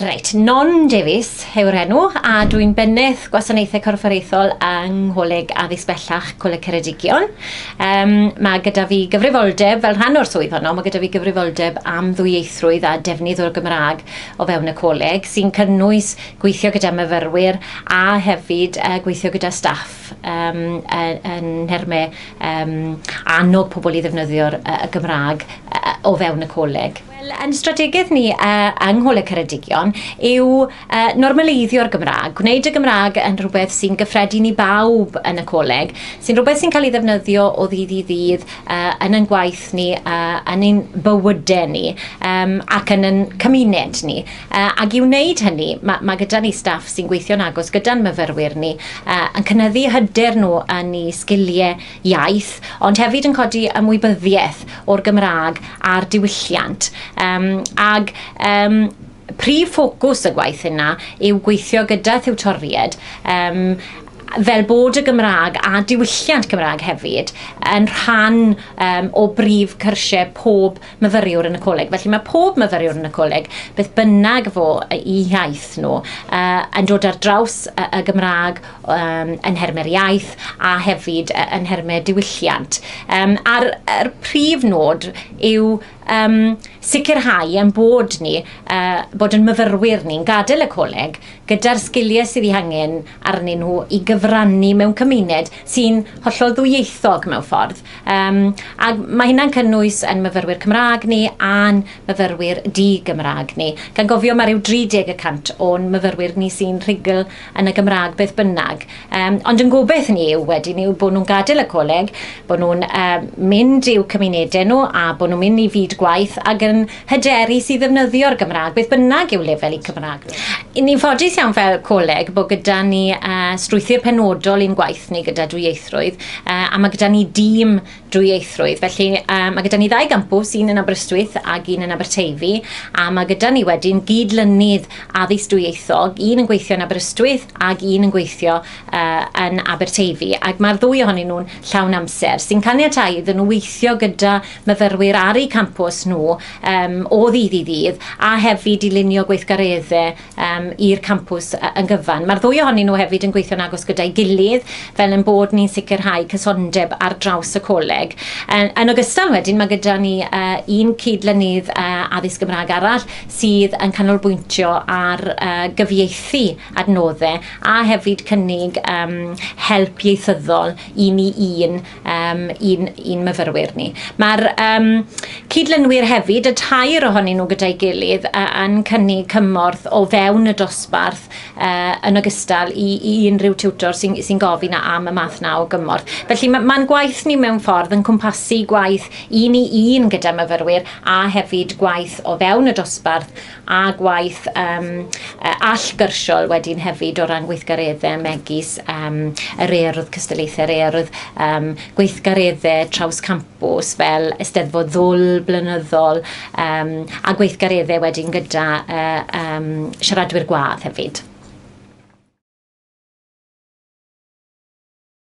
Reit, Non Davies yw'r enw a dwi'n bennydd gwasanaethau corfforaethol yng Ngholeg Addysg Bellach Coleg Ceredigion. Um, mae gyda fi gyfrifoldeb, fel rhan o'r swydd honno, mae gyda fi gyfrifoldeb am ddwyieithrwydd a defnydd o'r Gymraeg o fewn y coleg, sy'n cynnwys gweithio gyda myfyrwyr a hefyd uh, gweithio gyda staff. gap um, yn nhermau um, annog pobl i ddefnyddio'r uh, Gymraeg uh, o fewn y coleg. Wel, yn strategaeth ni uh, yng Ngholeg Ceredigion yw uh, normaleiddio'r Gymraeg, gwneud y Gymraeg yn rhywbeth sy'n gyffredin i bawb yn y coleg, sy'n rhywbeth sy'n cael ei ddefnyddio o ddydd i ddydd uh, yn ein gwaith ni, uh, yn ein bywydau ni um, ac yn ein cymuned ni. Ac i wneud hynny, mae, mae gyda ni staff sy'n gweithio'n agos gyda'n myfyrwyr ni, yn cynyddu hyder nhw yn eu sgiliau iaith, ond hefyd yn codi ymwybyddiaeth o'r Gymraeg a'r diwylliant. Um, ag um, prif ffocws y gwaith yna yw gweithio gyda thiwtoried um, fel bod y Gymraeg a diwylliant Cymraeg hefyd yn rhan um, o brif cyrsiau pob myfyriwr yn y coleg. Felly mae pob myfyriwr yn y coleg, beth bynnag fo i iaith nhw, uh, yn dod ar draws y, y Gymraeg um, yn hermau'r iaith a hefyd uh, yn hermau diwylliant. Um, a'r, a'r prif nod yw um, sicrhau yn bod ni, uh, bod yn myfyrwyr ni'n gadael y coleg gyda'r sgiliau sydd ei hangen arnyn nhw i gyfrannu mewn cymuned sy'n hollol ddwyieithog mewn ffordd. Um, ac mae hynna'n cynnwys yn myfyrwyr Cymraeg ni a'n myfyrwyr di-Gymraeg ni. Gan gofio mae rhyw 30 y cant o'n myfyrwyr ni sy'n rhugl yn y Gymraeg beth bynnag. Um, ond yn gobeith ni yw wedyn yw bod nhw'n gadael y coleg, bod nhw'n um, mynd i'w cymunedau nhw a bod nhw'n mynd i fyd gwaith ac yn Hyderus i ddefnyddio'r Gymraeg, beth bynnag yw lefel y Cymraeg. Ni'n ffodus iawn fel coleg bod gyda ni uh, strwythur penodol i'n gwaith ni gyda dwyieithrwydd, uh, a mae gyda ni dîm dwyieithrwydd. Felly uh, mae gyda ni ddau gampws, un yn Aberystwyth ac un yn Aberteifi, a mae gyda ni wedyn gyd-lynydd addysg dwyieithog, un yn gweithio yn Aberystwyth ac un yn gweithio uh, yn Aberteifi. Ac mae'r ddwy ohonyn nhw'n llawn amser, sy'n caniatau iddyn nhw weithio gyda myfyrwyr ar eu campws nhw um, o ddydd i ddydd, a hefyd i lunio gweithgareddau um, i'r campws yn gyfan. Mae'r ddwy ohonyn nhw hefyd yn gweithio'n agos gyda'i gilydd fel yn bod ni'n sicrhau cysondeb ar draws y coleg. Yn, yn ogystal wedyn, mae gyda ni uh, un cydlynydd uh, addysg Gymraeg arall sydd yn canolbwyntio ar uh, gyfieithu adnoddau a hefyd cynnig um, help ieithyddol i ni un um, i'n, un myfyrwyr ni. Mae'r um, cydlynwyr hefyd, y tair ohonyn nhw gyda'i gilydd, uh, yn cynnig cymorth o fewn y dosbarth uh, yn ogystal i, i unrhyw tiwtor sy'n sy gofyn am y math na o gymorth. Felly mae'n ma gwaith ni mewn ffordd yn cwmpasu gwaith un i un gyda myfyrwyr a hefyd gwaith o fewn y dosbarth a gwaith um, allgyrsiol wedyn hefyd o ran gweithgareddau megis um, yr earodd cystyllaethau, yr earodd um, gweithgareddau traws campus fel ysteddfod ddwl blynyddol um, a gweithgareddau wedyn gyda uh, um, siaradwyr gwadd hefyd.